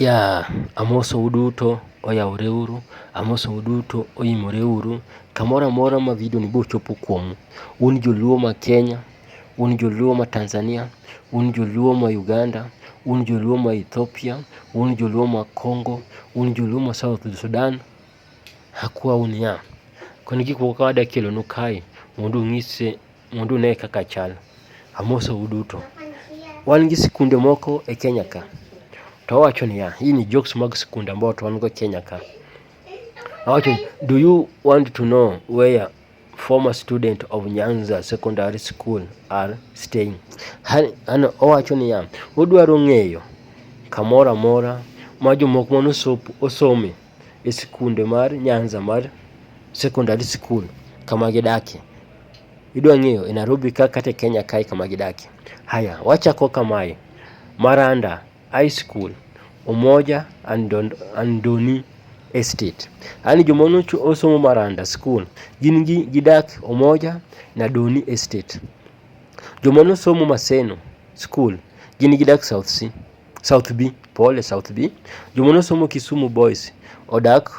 Yaa, amosou duto, oyawore uru, amosou duto, oimore uru, kamoro amora ma video ni biro chopo kuomu. Un joluo ma Kenya, un joluo ma Tanzania, un joluo ma Uganda, un joluo ma Ethiopia, un joluo ma Congo, un joluo ma South Sudan, akwau niya, koni gik moko ka adwa kelonu kae mondo ung'ise. mondo une kaka chal. Amoso uduto. Wan gi sikunde moko e Kenya ka. To wawacho niya, hii ni jokes mag sikunde ambao to wan go Kenya ka. Awacho, do you want to know where former student of Nyanza Secondary School are staying? Ano owacho niya, udwaro ng'eyo kamoro amora ma jomoko mane osomo e sikunde mar Nyanza mar secondary school kama gidakie. Idwa ng'eyo e Nairobi ka kata e Kenya kae kama gidakie. Haya, wachako kamae, Maranda High School, Umoja and Don- and Doni Estate. Yaani joma nocho- osomo Maranda School gin gi- gidak Umoja na Doni Estate. Joma nosomo Maseno School gin gidak South Sea. South B, pole South B. Joma nosomo Kisumu Boys odak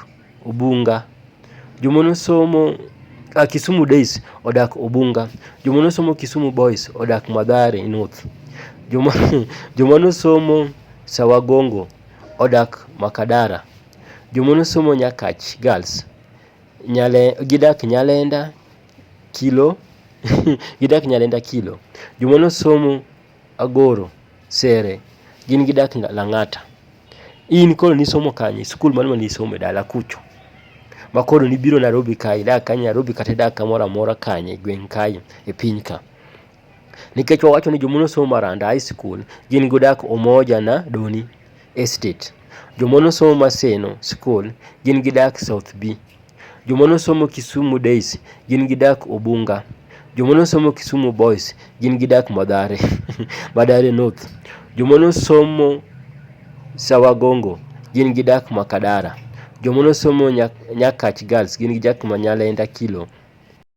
Ubunga. Joma nosomo uh, Kisumu Days odak Ubunga. Joma nosomo Kisumu Boys odak Madhare North. Joma joma nosomo Sawagongo odak Makadara. Joma nosomo Nyakach Girls nyale gidak Nyalenda Kilo gidak Nyalenda Kilo. Joma nosomo Agoro, Sere, gin gidak Lang'ata. In koro nisomo kanye, skul mane ma nisomo e dala kucho? Ma koro nibiro Narobi kae, idak kanye Narobi kata idak kamoro amora kanye e gweng' kae e piny ka? Nikech wawacho ni joma nosomo maranda, high school, gin gudak Umoja na Doni. Estate. Jomwa nosomo Maseno School gin gidak South B. Jomwa nosomo Kisumu Days gin gidak Ubunga. Jomwa nosomo Kisumu Boys gin gidak Madhare, Madhare North. Jomwa nosomo Sawagongo gin gidak Makadara. Jomwa nosomo Nya- Nyakach Girls gin gidak Manyalenda Kilo.